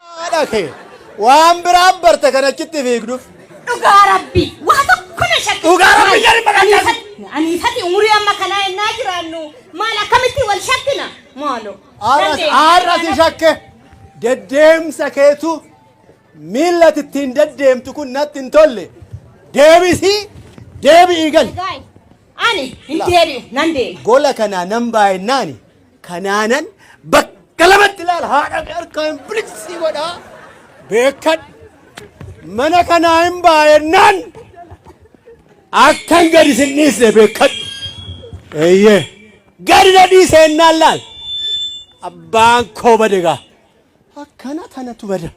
Haadha kee waan biraan barte kan achitti fiigduuf. Dhugaa rabbi waa tokko na shakke. Dhugaa rabbi jedhi maqaa Ani fati umurii amma kanaa ennaa jiraannu maal akkamitti wal shakkina maaloo. Haadha si shakke deddeemsa keetu miila ittiin deddeemtu kun natti hin tolle deebisii deebi'ii gali. Ani hin deebi'u nan deema. Gola kanaa nan baay'innaani Kanaanan bakka lamatti ilaala haadha kee harkaan biliqsii godhaa beekadhu. Mana kanaa hin baay'annaan akkan gadi sin dhiisne beekadhu. Eeyyee gadi na dhiise ennaan laal abbaan koo bade gaa akkana tanatu bada.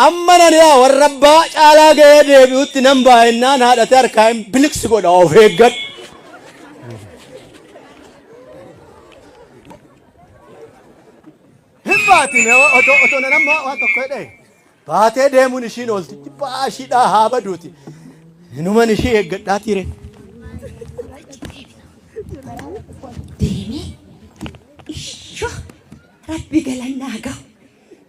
Amma Naniyaa warra abbaa caalaa ga'ee deebi'utti nan ba'a ennaan haadhati harkaa hin biliqsi godha of eeggadhu. Hin baatin otoo otoo nan amma waan tokko jedhee baatee deemuun ishiin oolti jibbaa ishiidhaa haa baduuti. Inuman ishii eeggadhaa tiire. deemee ishoo rabbi galannaa gahu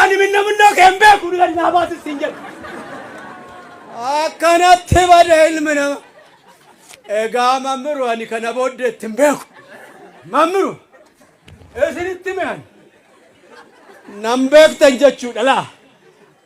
Ani minna minnoo kee hin beeku ni gadi naa baasis siin jedhe. Akkanatti bada ilmi nama. Egaa mammiru ani kana booddee itti hin beeku. Mammiru isinitti mi'an. Nan beektan jechuudha laa.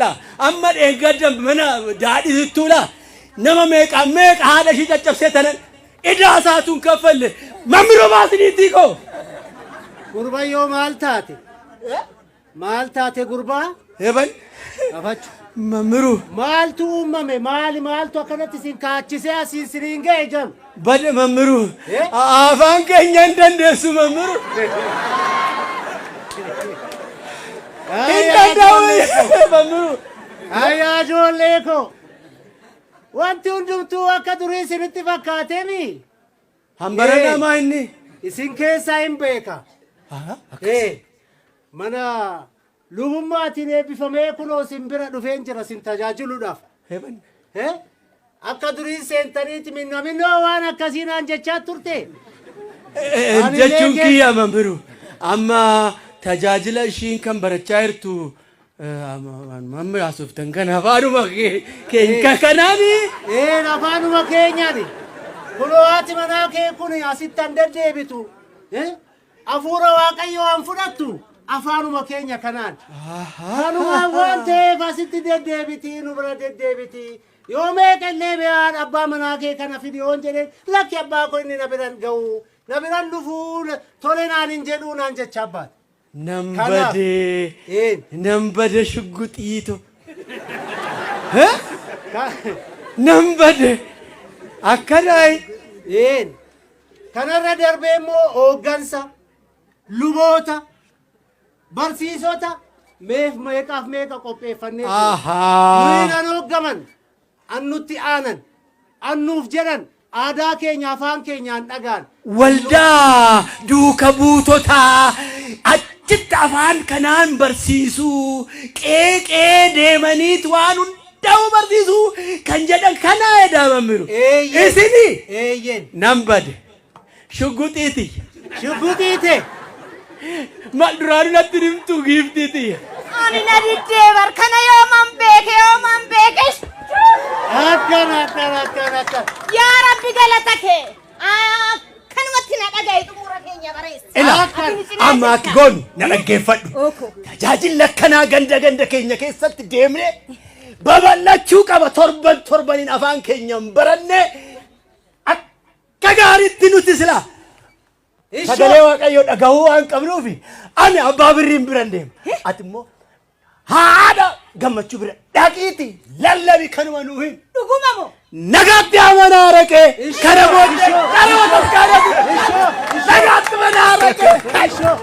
la amma dheengadda mana daadhisittuu la nama meeqaa meeqa haadha ishii caccabsee tanan idaa isaatuun kaffalle mammiro baasiniitii koo Gurbayyoo maal taate? Maal taate gurbaa? heban Gafachu. mammiru Maaltu uumame? Maali maaltu akkanatti isin kaachisee asiin siriin ga'e jam? Bade mammiru. Afaan keenya hin dandeessu mammiru. Hin danda'u mammiru. Ayyaa ijoollee koo. Wanti hundumtuu akka durii isinitti fakkaatemi. Hambara namaa inni. Isin keessaa hin beeka. Ee, Mana Lubummaatiin eebbifamee kunoo sin bira dhufeen jira sin tajaajiluudhaaf. Heaven. He? Akka duriin seentaniiti minna minnoo waan akkasii naan jechaa turte. Eh, Ani Jechuun leegee- kiyya amma biru. Amma tajaajila ishiin kan barachaa jirtu eh, amma waanuma amma haasoftan kana afaanuma kee- keenya kanaani. Ee afaanuma keenyaani. Kunoo haati manaa kee kun asitti an deddeebitu. Eh? Afuura Waaqayyoo an fudhattu afaanuma keenya kanaan. Kanumaan waan ta'eef asitti deddeebitii nu bira deddeebitii. Yoo meeqa illee be'aan abbaa manaa kee kana fidi yoon jedheen lakki abbaa koo inni na biran ga'u na biran dhufuu na- tole naan hin jedhuu naan jecha abbaati. Nan Kanaaf. bade. Een. Nan bade shugguxiito. Hee? Ka- Nan bade. Akkanaayi. Een. Kanarra darbee immoo hooggansa, luboota, barsiisota meef meeqaaf meeqa qopheeffannee jiru. Ahaa. Nuyi nan hooggaman, an nutti aanan, an nuuf jedhan aadaa keenya afaan keenyaan dhagaan. Waldaa duuka buutotaa achitti afaan kanaan barsiisuu qeeqee deemaniit waan hunda. da'uu barsiisuu kan jedhan kanaa edaa mammiru. Eeyyeen. Isini Eeyyeen. nan bade. Shugguxii tiyya. Shugguxii tee. Mal duraanu natti nimtuu giiftii tiyya. Ani na diddee bar kana yooman beeke yooman beeke. Akkana akkana akkana akkana. Yaa Rabbi galata kee. Akkanumatti na dhaga'i xumura keenya bareessa. Ila amma akki goonu na dhaggeeffadhu. Tajaajilli akkanaa ganda ganda keenya keessatti deemnee babal'achuu qaba torban torbaniin afaan keenyaan barannee akka gaariitti nuti sila sagalee waaqayyoo dhagahuu waan qabnuufi ani abbaa birriin biran deema. Ati immoo Haadha gammachuu bira dhaqiiti lallabi kanuma nuu hin. Dhuguma moo? Nagaatti amanaa araqee kana booddee dhaloota gaadatu. Nagaatti mana araqee. Ishoo.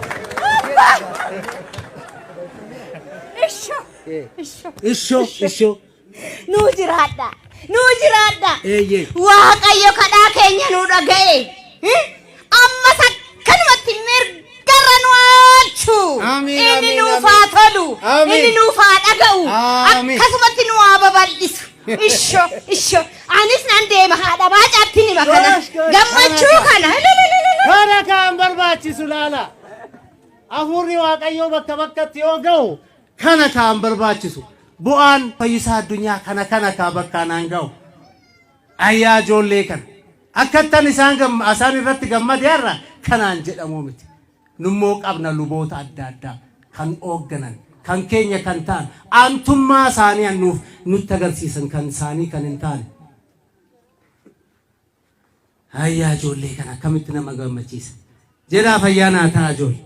Ishoo. Ishoo. Ishoo. Nuu jiraadha! Nuu jiraadha! Eeyyee. Waaqayyo kadhaa keenya nuu dhaga'e. Eh? Ammas akkanumatti mirgarra nu oolchu. Amiin, Inni amiin, nuuf haa amiin. tolu. Amiin. Inni nuuf haa dhaga'u. Amiin. Akkasumatti nu haa babal'isu. Isho, isho. Anis nan deema haadha baacaatti nima kana. Gosh, gosh. Gammachuu kana. Ililililil. Kana kan barbaachisu laala. Hafuurri Waaqayyoo bakka bakkatti yoo ga'u Kana kaa hin barbaachisu. Bu'aan fayyisaa addunyaa kana kana kaa bakkaa naan ga'u. Ay yaa ijoollee kana. Akkattan isaan gamma asaan irratti gammade har'a kanaan jedhamuu miti. Nummoo qabna luboota adda addaa kan oogganan kan keenya kan ta'an aantummaa isaanii an nuuf nutti agarsiisan kan isaanii kan hin taane. Ay yaa ijoollee kana akkamitti nama gammachiisa. Jedhaa fayyaa naa ta'aa ijoollee.